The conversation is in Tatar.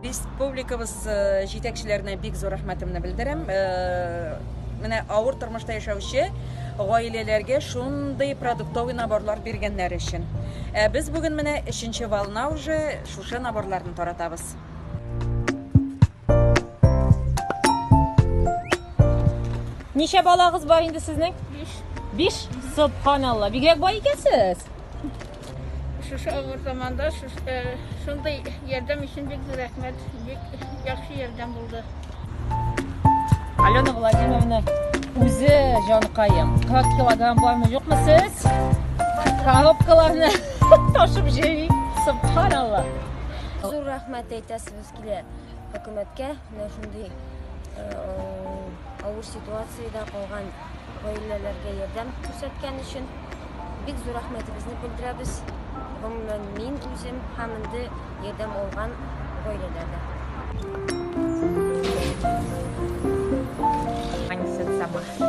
республикабыз э, җитәкчеләренә бик зур рәхмәтемне белдерәм э, менә авыр тормышта яшәүче гаиләләргә шундый продуктовый наборлар биргәннәр өчен ә без бүген менә өченче волна уже шушы наборларны таратабыз Ничә балагыз бар инде сезнең? 5. 5? Субханалла. Бигрәк бай икәнсез. Шушы авыр заманда э, шундый ярдәм өчен бик зур рәхмәт. Бик яхшы ярдәм булды. Алена Владимировна үзе җанкаем. 40 килограмм бармы, юкмы сез? Коробкаларны ташып җыймый. Субханалла. Зур рәхмәт әйтәсез. килә. Хөкүмәткә менә шундый э, авыр ситуациядә калган гаиләләргә ярдәм күрсәткән өчен бик зур рәхмәтебезне белдерәбез. Гомумән мин үзем һәм инде ярдәм алган гаиләләргә. Они сами.